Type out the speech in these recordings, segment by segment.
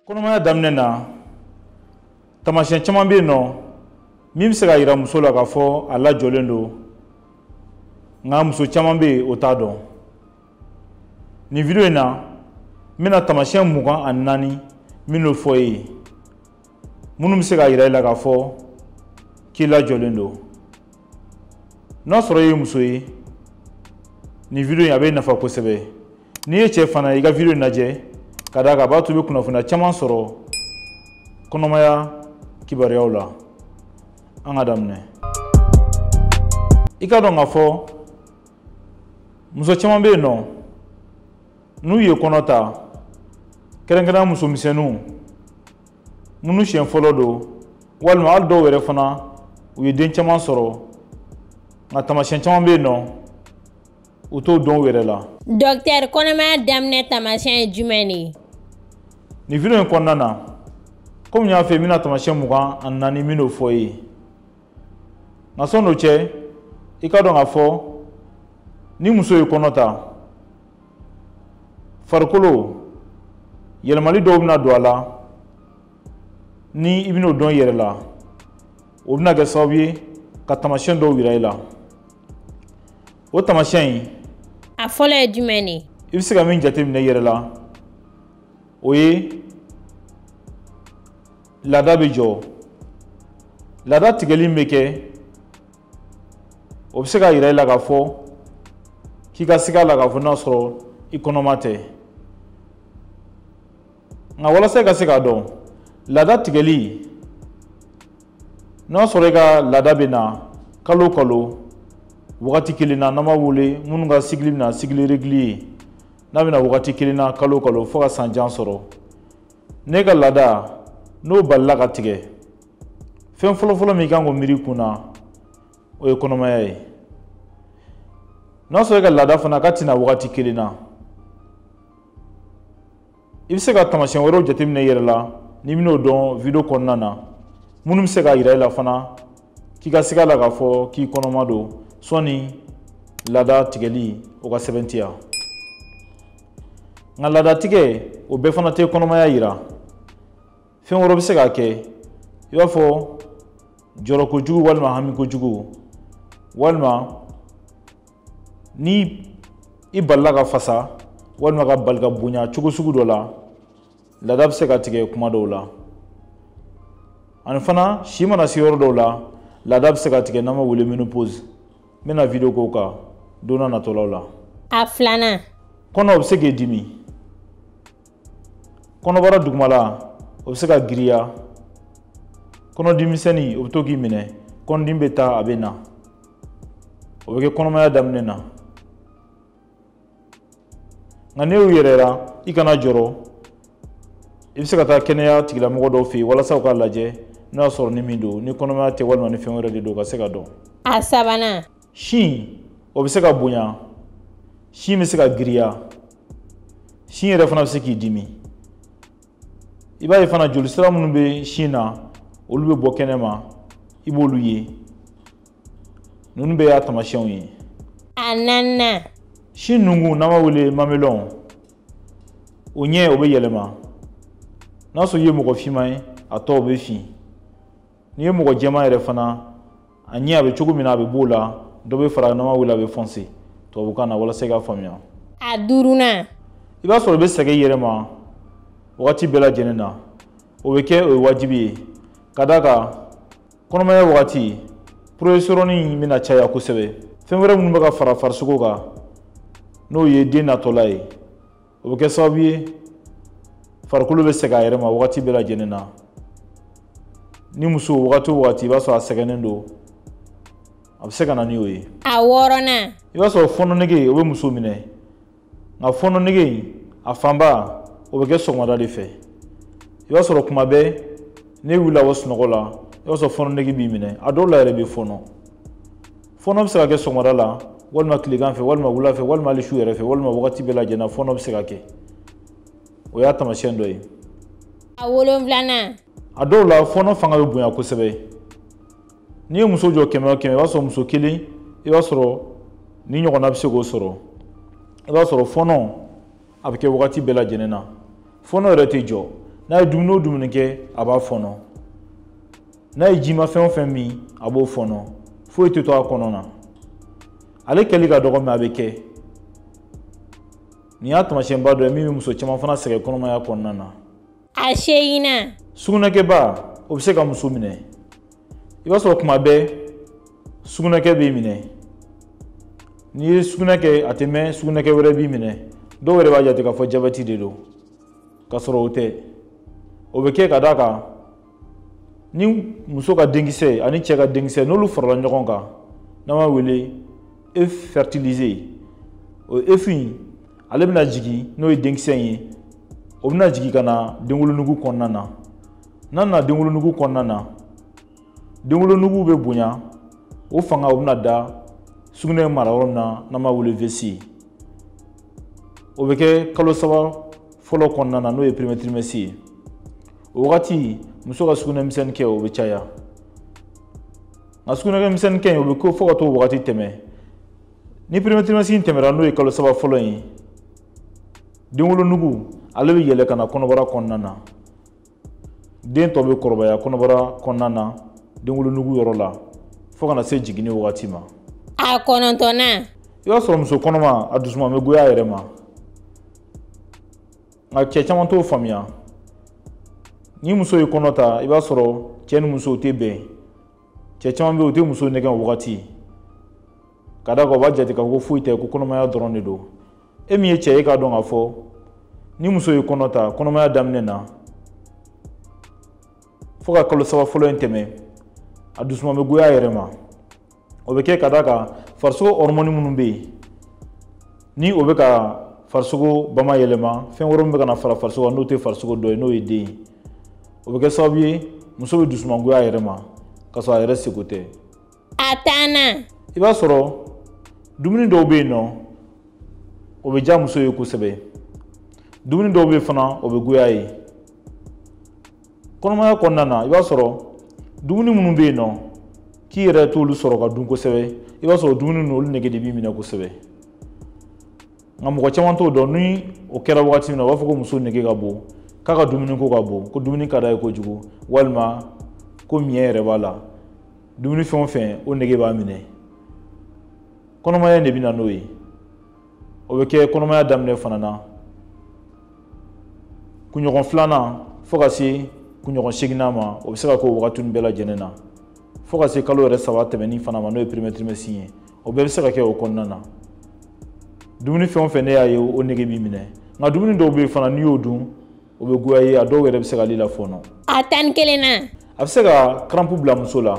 kɔnɔmaya daminɛ na taamasiyɛn caman bɛ yen nɔ min bɛ se k'a yira muso la k'a fɔ a lajɔlen don nka muso caman bɛ yen o t'a dɔn nin video in na n bɛna taamasiyɛn mugan ani naani minnu fɔ e ye minnu bɛ se k'a yira i la k'a fɔ k'i lajɔlen don n'a sɔrɔ i ye muso ye nin video in a b'i nafa kosɛbɛ n'i ye cɛ fana i ka video in lajɛ ka d'a kan a b'a to i bɛ kunnafoniya caman sɔrɔ kɔnɔmaya kibaruyaw la an k'a daminɛ i k'a dɔn k'a fɔ muso caman bɛ yen nɔ n'u ye kɔnɔ ta kɛrɛnkɛrɛnya muso misɛnninw minnu siɲɛ fɔlɔ don walima hali dɔw yɛrɛ fana u ye den caman sɔrɔ nka taamasiyɛn caman bɛ yen nɔ u t'o dɔn u yɛrɛ la dɔktɛri kɔnɔmaya daminɛ taamasiyɛn ye jumɛn de ye nin video in kɔnɔna na komi n y'a f'i ye n bɛna taamasiyɛn mugan ani naani minnu fɔ e ye nka sɔni o cɛ i k'a dɔn k'a fɔ ni muso ye kɔnɔ ta farikolo yɛlɛmali dɔw bɛna don a la ni i bɛn'o dɔn i yɛrɛ la o bɛna kɛ sababu ye ka taamasiyɛn dɔw yira i la o taamasiyɛn in na fɔlɔ ye jumɛn de ye i bɛ se ka min jateminɛ i yɛrɛ la o ye laada bɛ jɔ laada tigɛli min bɛ kɛ o bɛ se k'a yira i la k'a fɔ k'i ka siga a la k'a fɔ n'a sɔrɔ i kɔnɔma tɛ nka walasa i ka se k'a dɔn laada tigɛli N'a y'a sɔrɔ e ka laada bɛ na kalo kalo wagati kelen na n'an b'a wele minnu ka cycle bɛ na cycle régulier ye n'a bɛ na wagati kelen na kalo kalo fo ka san jan sɔrɔ n'e ka laada n'o balila ka tigɛ fɛn fɔlɔfɔlɔ min i kan k'o miiri kun na o ye kɔnɔmaya ye n'a sɔrɔ e ka laada fana ka tɛ na wagati kelen na i bɛ se ka taamasiyɛn wɛrɛw jateminɛ i yɛrɛ la n'i bɛn'o dɔn video kɔnɔna na minnu bɛ se k'a yira i la fana k'i ka siga a la k'a fɔ k'i kɔnɔma don sɔni laada tigɛli o k'a sɛbɛntiya nka laada tigɛ o bɛɛ fana tɛ kɔnɔmaya yira fɛn wɛrɛ bɛ se k'a kɛ i b'a fɔ jɔrɔ kojugu walima hami kojugu walima ni i balila ka fasa walima ka bali ka bonya cogo sugu dɔ la laada bɛ se ka tigɛ kuma dɔw la ani fana si mana se yɔrɔ dɔw la laada bɛ se ka tigɛ n'an b'a wele menopause n bɛna video k'o kan don na natɔlaw la a filanan kɔnɔ bɛ se k'i dimi kɔnɔbara dugumala o bɛ se ka giriya kɔnɔdimisɛnni o bɛ to k'i minɛ kɔnɔdimi bɛ taa a bɛ na o bɛ kɛ kɔnɔmaya daminɛ na nka n'i y'o y'i yɛrɛ la i kana jɔrɔ i bɛ se ka taa kɛnɛya tigilamɔgɔ dɔw fɛ yen walasa u k'a lajɛ n'o y'a sɔrɔ ni min don ni kɔnɔmaya tɛ walima ni fɛn wɛrɛ de don ka se k'a dɔn a sabanan sin o bɛ se ka bonya sin bɛ se ka giriya sin yɛrɛ fana bɛ se k'i dimi i b'a ye fana jolisira minnu bɛ sin na olu bɛ bɔ kɛnɛma i b'olu ye ninnu bɛɛ y'a tamasiyɛnw ye a naaninan sin nungu n'an b'a wele mamelɔn o ɲɛ o bɛ yɛlɛma n'a sɔrɔ i ye mɔgɔ finman ye a tɔ o bɛ fin n'i ye mɔgɔ jɛman yɛrɛ fana a ɲɛ a bɛ cogo min na a bɛ b'o la dɔ bɛ fara n'an b'a wele a bɛ fɔnse tubabukan na walasa i k'a faamuya a duurunan i b'a sɔrɔ i bɛ sɛgɛn i yɛrɛ ma wagati bɛɛ lajɛlen na o bɛ kɛ o ye wajibi ye ka d'a kan kɔnɔmaya wagati progestérone bɛna caya kosɛbɛ fɛn wɛrɛ minnu bɛ ka fara farisogo kan n'o ye den natɔla ye o bɛ kɛ sababu ye farikolo bɛ sɛgɛn a yɛrɛ ma wagati bɛɛ lajɛlen na ni muso wagati o wagati i b'a sɔrɔ a sɛgɛnnen don a bɛ se ka na ni o ye a wɔɔrɔnan i b'a sɔrɔ fɔnɔ nege o bɛ muso minɛ nka fɔnɔ nege in a fanba o bɛ kɛ sɔgɔmada de fɛ i b'a sɔrɔ kuma bɛɛ n'i wulila ka bɔ sunɔgɔ la i b'a sɔrɔ fɔnɔ nege b'i minɛ a dɔw la yɛrɛ bɛ fɔnɔ fɔnɔ bɛ se ka kɛ sɔgɔmada la walima tilegan fɛ walima wula fɛ walima hali su yɛrɛ fɛ walima wagati bɛɛ lajɛlen na fɔnɔ bɛ se ka kɛ o y'a taamasiyɛn dɔ ye a wolonfilanan a dɔw la fɔnɔ fanga bɛ bonya kosɛbɛ n'i ye muso jɔ kɛmɛ o kɛmɛ i b'a sɔrɔ muso kelen i b'a sɔrɔ nin ɲɔgɔnna bɛ se k'o sɔrɔ i b'a sɔrɔ fɔnɔ a bɛ kɛ wagati bɛɛ lajɛlen na fɔnɔ yɛrɛ tɛ jɔ n'a ye dumuni o dumuni kɛ a b'a fɔnɔ n'a ye jimafɛn o fɛn min a b'o fɔnɔ foyi tɛ to a kɔnɔ na ale kɛli ka dɔgɔ mɛ a bɛ kɛ nin y'a taamasiyɛnba dɔ ye min bɛ muso caman fana sɛgɛn kɔnɔmaya kɔnɔna na a seginnan sugunɛkɛba o bɛ se ka muso minɛ i b'a sɔrɔ kuma bɛɛ sugunɛkɛ b'i minɛ n'i ye sugunɛ kɛ a tɛ mɛn sugunɛkɛ wɛrɛ b'i minɛ dɔw yɛrɛ b'a jate k'a fɔ jabɛti de don k'a sɔrɔ o tɛ o bɛ kɛ ka d'a kan ni muso ka denkisɛ ani cɛ ka denkisɛ n'olu farala ɲɔgɔn kan n'an b'a wele œuf fertilisé o œuf in ale bɛna jigin n'o ye denkisɛ in ye o bɛna jigin ka na denwolonugu kɔnɔna na n'a nana denwolonugu kɔnɔna na denwolonugu bɛ bonya o fanga o bɛna da sugunɛ mara yɔrɔ min na n'an b'a wele vessie o bɛ kɛ kalo saba fɔlɔ kɔnɔna na n'o ye premier trimestre ye o wagati muso ka sugunɛ misɛnnin kɛ o bɛ caya nka sugunɛkɛ misɛnnin kɛ in o bɛ kɛ fo ka t'o wagati tɛmɛ ni premier trimestre in tɛmɛra n'o ye kalo saba fɔlɔ in ye denwolonugu ale bɛ yɛlɛ ka na kɔnɔbara kɔnɔna na den tɔ bɛ kɔrɔbaya kɔnɔbara kɔnɔna na denwolonugu yɔrɔ la fo ka na se jiginni wagati ma a kɔnɔntɔnnan i b'a sɔrɔ muso kɔnɔma a dusuma bɛ goya a yɛrɛ ma nka cɛ caman t'o faamuya ni muso ye kɔnɔ ta i b'a sɔrɔ cɛ ni musow tɛ bɛn cɛ caman bɛ yen u tɛ muso nɛgɛn o wagati ka d'a kan u b'a jate k'a fɔ ko foyi tɛ ko kɔnɔmaya dɔrɔn de don e min ye cɛ ye i k'a dɔn k'a fɔ ni muso ye kɔnɔ ta kɔnɔmaya daminɛ na fo ka kalo saba fɔlɔ in tɛmɛ a dusuma bɛ goya a yɛrɛ ma o bɛ kɛ ka d'a kan farisogo hɔrɔmɔni minnu bɛ yen ni o bɛ ka farisogo bamayɛlɛma fɛn wɛrɛ min bɛ ka na fara farisogo kan n'o tɛ farisogo dɔ ye n'o ye den ye o bɛ kɛ sababu ye muso bɛ dusumangoya a yɛrɛ ma k'a sɔrɔ a yɛrɛ seko tɛ a tannan i b'a sɔrɔ dumuni dɔw bɛ yen nɔ o bɛ diya muso ye kosɛbɛ dumuni dɔw bɛ yen fana o bɛ goya a ye kɔnɔmaya kɔnɔna na i b'a sɔrɔ dumuni minnu bɛ yen nɔ k'i yɛrɛ t'olu sɔrɔ ka dun kosɛbɛ i b'a sɔrɔ dumuni ninnu olu nege de b'i minɛ kosɛbɛ nka mɔgɔ caman t'o dɔn ni o kɛra wagati min na u b'a fɔ ko muso nege ka bon k'a ka dumuni ko ka bon ko dumuni ka d'a ye kojugu walima ko miɲɛ yɛrɛ b'a la dumuni fɛn o fɛn o nege b'a minɛ kɔnɔmaya in de bɛ na n'o ye o bɛ kɛ kɔnɔmaya daminɛ fana na kunɲɔgɔn filanan fo ka se kunɲɔgɔn seginnan ma o bɛ se ka k'o wagati bɛɛ lajɛlen na fo ka se kalo yɛrɛ saba tɛmɛni fana ma n'o ye premier trimestre ye o bɛɛ bɛ se ka kɛ o kɔnɔna na dumuni fɛn o fɛn ne y'a ye o nege b'i minɛ nka dumuni dɔw bɛ yen fana n'i y'o dun o bɛ goya i ye a dɔw yɛrɛ bɛ se ka ale lafɔɔnɔ a tan ni kelennan a bɛ se ka karanpu bila muso la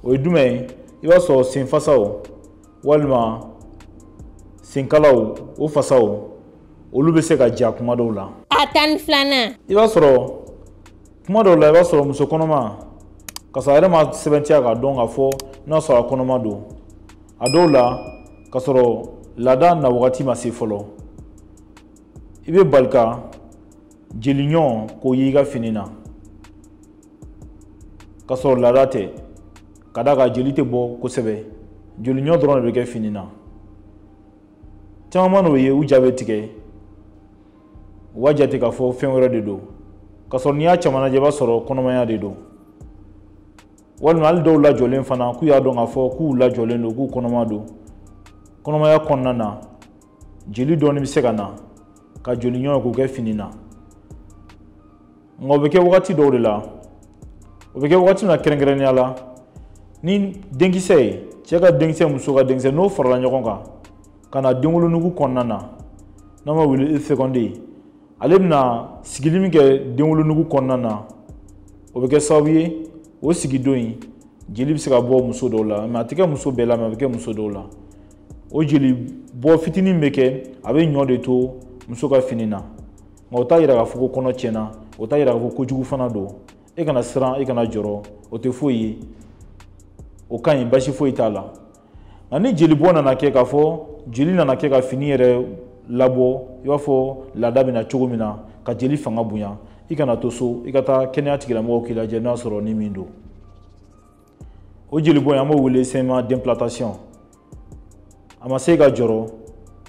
o ye jumɛn ye i b'a sɔrɔ senfasaw walima senkalaw o fasaw olu bɛ se ka ja kuma dɔw la a tan ni filanan i b'a sɔrɔ kuma dɔw la i b'a sɔrɔ muso kɔnɔma ka sɔrɔ a yɛrɛ ma sɛbɛntiya k'a dɔn k'a fɔ n'a sɔrɔ a kɔnɔma don a dɔw la ka sɔrɔ laada na wagati ma se fɔlɔ i bɛ bali ka jeli ɲɔ k'o y'i ka fini na ka sɔrɔ laada tɛ ka d'a kan jeli tɛ bɔ kosɛbɛ jeli ɲɔ dɔrɔn de bɛ kɛ fini na caman man'o ye u ja bɛ tigɛ u b'a jate k'a fɔ fɛn wɛrɛ de don k'a sɔrɔ n'i y'a caman lajɛ i b'a sɔrɔ kɔnɔmaya de don walima hali dɔw lajɔlen fana k'u y'a dɔn k'a fɔ k'u lajɔlen don k'u kɔnɔma don kɔnɔmaya kɔnɔna na jeli dɔɔni bɛ se ka na ka jeli ɲɔ k'o kɛ fini na nka o bɛ kɛ wagati dɔw de la o bɛ kɛ wagati min na kɛrɛnkɛrɛnnenya la ni denkisɛ ye cɛ ka denkisɛ muso ka denkisɛ n'o farala ɲɔgɔn kan ka na denwolonugu kɔnɔna na n'an b'a wele fécondé ale bɛna sigili min kɛ denwolonugu kɔnɔna na o bɛ kɛ sababu ye o sigidon in jeli bɛ se ka bɔ muso dɔw la mɛ a tɛ kɛ muso bɛɛ la mɛ a bɛ kɛ muso dɔw la o jeli bɔ fitinin bɛ kɛ a bɛ ɲɔ de to muso ka fini na nka o t'a yira k'a fɔ ko kɔnɔ tiɲɛna o t'a yira k'a fɔ kojugu fana don e kana siran e kana jɔrɔ o tɛ foyi ye o ka ɲi basi foyi t'a la nka ni jeli bɔ nana kɛ k'a fɔ jeli nana kɛ ka fini yɛrɛ labɔ i b'a fɔ laada bɛ na cogo min na ka jeli fanga bonya i kana to so i ka taa kɛnɛya tigilamɔgɔw k'i lajɛ n'a sɔrɔ ni min don o jeli bɔ in an b'o wele saignement d'implantation a ma se i ka jɔrɔ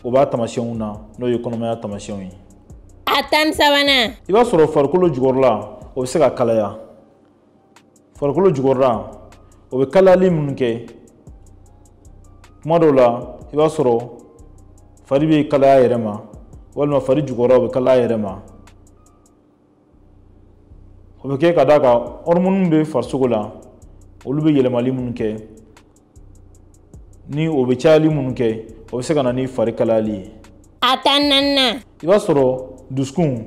o b'a taamasiyɛnw na n'o ye kɔnɔmaya taamasiyɛnw ye a tan sabanan i b'a sɔrɔ farikolo jukɔrɔla o bɛ se ka kalaya farikolo jukɔrɔla o bɛ kalayali minnu kɛ kuma dɔw la i b'a sɔrɔ fari bɛ kalaya a yɛrɛ ma walima fari jukɔrɔla o bɛ kalaya a yɛrɛ ma o bɛ kɛ ka d'a kan ɔrimɔniw bɛ farisogo la olu bɛ yɛlɛmali minnu kɛ ni o bɛ cayali minnu kɛ o bɛ se ka na ni fari kalayali ye a tan naaninan i b'a sɔrɔ dusukun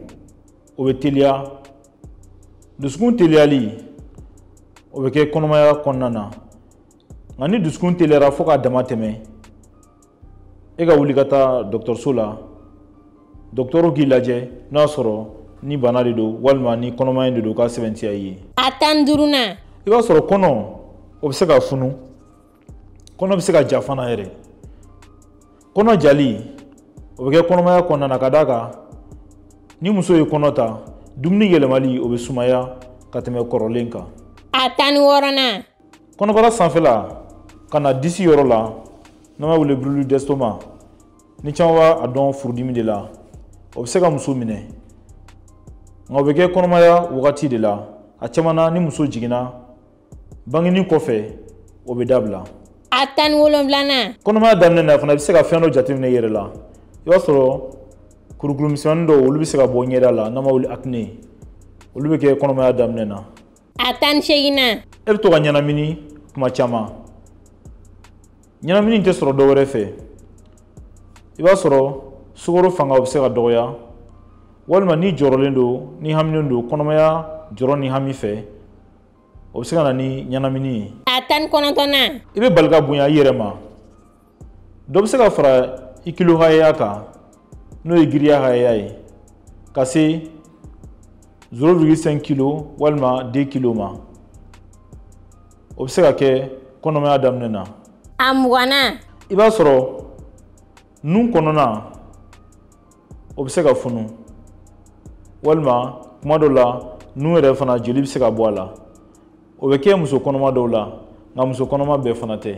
o bɛ teliya dusukun teliyali o bɛ kɛ kɔnɔmaya kɔnɔna na nka ni dusukun teliyara fo k'a dama tɛmɛ i ka wuli ka taa dɔgɔtɔrɔso la dɔgɔtɔrɔ k'i lajɛ n'a y'a sɔrɔ ni bana de don walima ni kɔnɔmaya de don k'a sɛbɛntiya i ye a tan ni duurunan i b'a sɔrɔ kɔnɔ o bɛ se ka funu kɔnɔ bɛ se ka ja fana yɛrɛ kɔnɔ jali o bɛ kɛ kɔnɔmaya kɔnɔna na ka d'a kan ni muso ye kɔnɔ ta dumuni yɛlɛmali o bɛ sumaya ka tɛmɛ kɔrɔlen kan a tan ni wɔɔrɔnan kɔnɔbara sanfɛla ka na disi yɔrɔ la n'an b'a wele brûlure d'estomac ni caman b'a dɔn furudimi de la o bɛ se ka muso minɛ nka o bɛ kɛ kɔnɔmaya wagati de la a caman na ni muso jiginna bangini kɔfɛ o bɛ dabila a tan ni wolonwulanan kɔnɔmaya daminɛ na fana i bɛ se ka fɛn dɔ jateminɛ i yɛrɛ la i b'a sɔrɔ kurukuru misɛnmannin dɔw olu bɛ se ka bɔ ɲɛda la n'an b'a wele acné olu bɛ kɛ kɔnɔmaya daminɛ na a tan ni seeginnan e bɛ to ka ɲɛnamini kuma caman ɲɛnamini tɛ sɔrɔ dɔ wɛrɛ fɛ i b'a sɔrɔ sukaro fanga o bɛ se ka dɔgɔya walima n'i jɔrɔlen don ni haminen don kɔnɔmaya jɔrɔ ni hami fɛ o bɛ se ka na ni ɲɛnamini ye a tan ni kɔnɔntɔnnan i bɛ bali ka bonya i yɛrɛ ma dɔ bɛ se ka fara i kilo hakɛya kan n'o ye giriya hakɛya ye ka se 0,5 kilo walima 2 kilo ma o bɛ se ka kɛ kɔnɔmaya daminɛ na a mugannan i b'a sɔrɔ nun kɔnɔna o bɛ se ka funu walima kuma dɔ la nun yɛrɛ fana joli bɛ se ka bɔ a la o bɛ kɛ muso kɔnɔma dɔw la nka muso kɔnɔma bɛɛ fana tɛ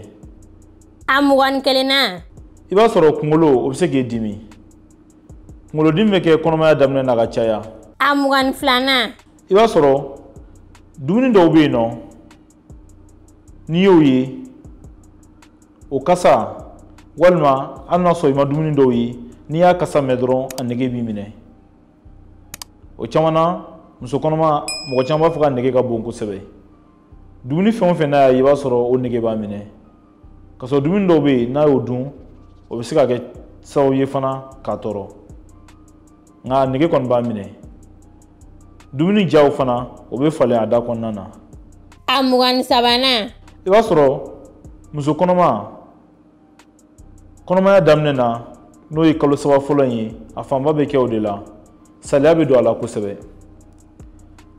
a mugan ni kelennan i b'a sɔrɔ kunkolo o bɛ se k'i dimi kunkolodimi bɛ kɛ kɔnɔmaya daminɛ na ka caya a mugan ni filanan i b'a sɔrɔ dumuni dɔw bɛ yen nɔ n'i y'o ye o kasa walima hali n'a sɔrɔ i ma dumuni dɔw ye n'i y'a kasa mɛn dɔrɔn a nege b'i minɛ o caman na muso kɔnɔma mɔgɔ caman b'a fɔ k'a nege ka bon kosɛbɛ dumuni fɛn o fɛn n'a y'a ye i b'a sɔrɔ o nege b'a minɛ k'a sɔrɔ dumuni dɔw bɛ yen n'a y'o dun o bɛ se ka kɛ sababu ye fana k'a tɔɔrɔ nka a nege kɔni b'a minɛ dumuni diya o fana o bɛ falen a da kɔnɔna na a mugan ni sabanan i b'a sɔrɔ muso kɔnɔma kɔnɔmaya daminɛ na n'o ye kalo saba fɔlɔ in ye a fanba bɛ kɛ o de la saliya bɛ don a la kosɛbɛ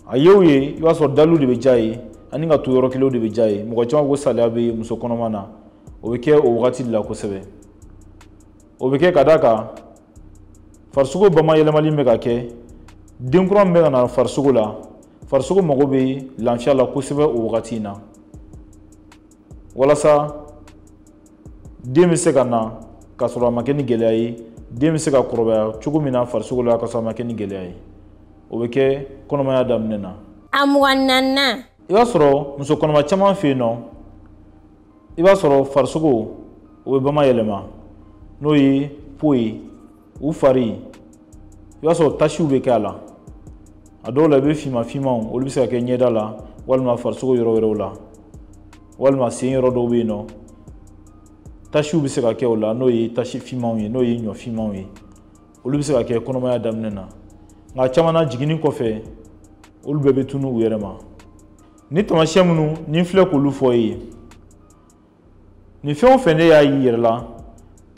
a ye o ye i b'a sɔrɔ daliw de bɛ diya a ye ani ka to yɔrɔ kelenw de bɛ diya a ye mɔgɔ caman ko saliya bɛ muso kɔnɔma na o bɛ kɛ o wagati de la kosɛbɛ o bɛ kɛ ka d'a kan farisogo bamayɛlɛmali bɛ ka kɛ den kura min bɛ ka na farisogo la farisogo mago bɛ lafiya la kosɛbɛ o wagati in na walasa den bɛ se ka na k'a sɔrɔ a ma kɛ ni gɛlɛya ye den bɛ se ka kɔrɔbaya cogo min na farisogo la k'a sɔrɔ a ma kɛ ni gɛlɛya ye o bɛ kɛ kɔnɔmaya daminɛ na a mugan ni naaninan i b'a sɔrɔ muso kɔnɔma caman fɛ yen nɔ i b'a sɔrɔ farisogo o bɛ bama yɛlɛma n'o ye po ye u fari i b'a sɔrɔ tasiw bɛ kɛ a la a dɔw la i bɛ finman finmanw olu bɛ se ka kɛ ɲɛda la walima farisogo yɔrɔ wɛrɛw la walima sen yɔrɔ dɔw bɛ yen nɔ tasiw bɛ se ka kɛ o la n'o ye tasi finmanw ye n'o ye ɲɔ finmanw ye olu bɛ se ka kɛ kɔnɔmaya daminɛ na nka caman na jiginni kɔfɛ olu bɛɛ bɛ tunun u yɛrɛ ma nin tamasiyɛn minnu ni n filɛ k'olu fɔ e ye nin fɛn o fɛn n'e y'a y'i yɛrɛ la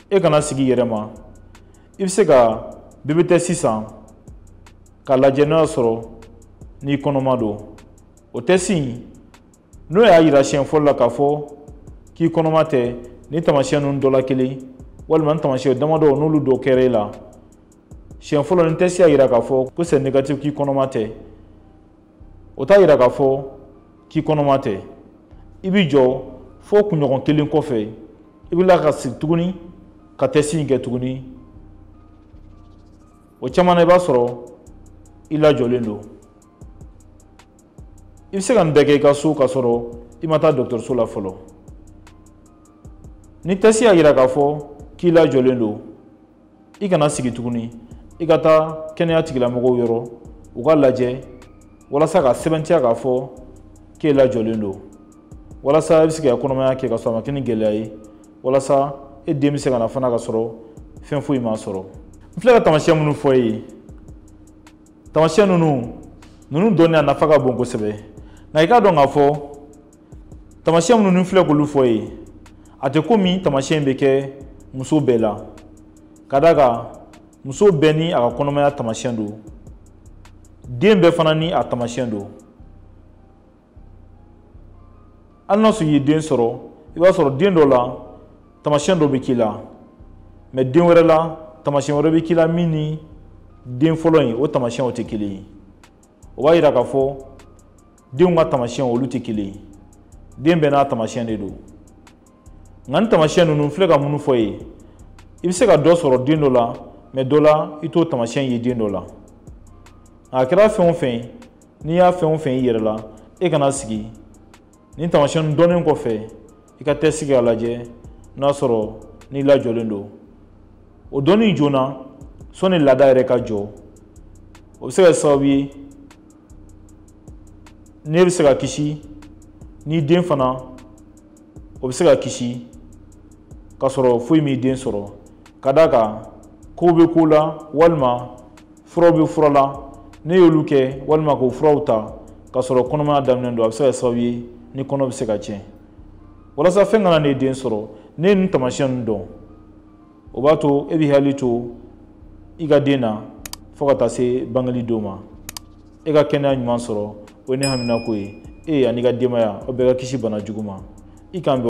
e kana sigi i yɛrɛ ma i bɛ se ka bebe tɛsi san k'a lajɛ n'o y'a sɔrɔ n'i kɔnɔma don o tɛsi in n'o y'a yira siɲɛ fɔlɔ la k'a fɔ k'i kɔnɔma tɛ ni tamasiyɛn ninnu dɔ la kelen walima ni tamasiyɛn damadɔ n'olu dɔ kɛra e la siɲɛ fɔlɔ ni tɛsi y'a yira k'a fɔ ko sɛ negatif k'i kɔnɔma tɛ o t'a yira k'a fɔ k'i kɔnɔma tɛ i b'i jɔ fo kunɲɔgɔn kelen kɔfɛ i bɛ tila ka segin tuguni ka tɛsi in kɛ tuguni o caman na i b'a sɔrɔ i lajɔlen don i bɛ se ka nin bɛɛ kɛ i ka so k'a sɔrɔ i ma taa dɔgɔtɔrɔso la fɔlɔ ni tɛsi y'a yira k'a fɔ k'i lajɔlen don i kana sigi tuguni i ka taa kɛnɛya tigilamɔgɔw yɔrɔ u k'a lajɛ walasa k'a sɛbɛntiya k'a fɔ k'e lajɔlen don walasa i bɛ se ka kɔnɔmaya kɛ ka sɔrɔ a ma kɛ ni gɛlɛya ye walasa e den bɛ se ka na fana ka sɔrɔ fɛn foyi m'a sɔrɔ n filɛ ka taamasiyɛn minnu fɔ e ye taamasiyɛn ninnu ninnu dɔnni a nafa ka bon kosɛbɛ nka i k'a dɔn k'a fɔ tamasiyɛn minnu ni n filɛ k'olu fɔ e ye a tɛ komi tamasiyɛn bɛ kɛ muso bɛɛ la ka d'a kan muso bɛɛ ni a ka kɔnɔmaya tamasiyɛn don den bɛɛ fana ni a tamasiyɛn don hali n'a sɔrɔ i ye den sɔrɔ i b'a sɔrɔ den dɔ la tamasiyɛn dɔ bɛ k'i la mɛ den wɛrɛ la tamasiyɛn wɛrɛ bɛ k'i la min ni den fɔlɔ in o tamasiyɛnw tɛ kelen ye o b'a yira k'a fɔ denw ka tamasiyɛnw olu tɛ kelen ye den bɛɛ n'a tamasiyɛn de don nka nin tamasiyɛn ninnu n filɛ ka minnu fɔ e ye i bɛ se ka dɔ sɔrɔ den dɔ la mɛ dɔ la i t'o tamasiyɛn ye den dɔ la a kɛra fɛn o fɛn ye n'i y'a fɛn o fɛn y'i yɛrɛ la e kana sigi nin tamasiyɛn dɔnnen kɔfɛ i ka tɛsi kɛ a lajɛ n'a sɔrɔ n'i lajɔlen don o dɔnni joona sɔnni laada yɛrɛ ka jɔ o bɛ se ka sababu ye ne bɛ se ka kisi n'i den fana o bɛ se ka kisi k'a sɔrɔ foyi m'i den sɔrɔ ka d'a kan kow bɛ ko la walima furaw bɛ fura la n'i y'olu kɛ walima k'o furaw ta k'a sɔrɔ kɔnɔmaya daminɛ don a bɛ se ka sababu ye ni kɔnɔ bɛ se ka tiɲɛ walasa fɛn kana ne den sɔrɔ ne ye nin taamasiyɛn ninnu dɔn o b'a to e b'i hakili to i ka den na fo ka taa se bangeli don ma e ka kɛnɛya ɲuman sɔrɔ o ye ne haminako ye e an'i ka denbaya aw bɛɛ ka kisi bana jugu ma i k'an bɛn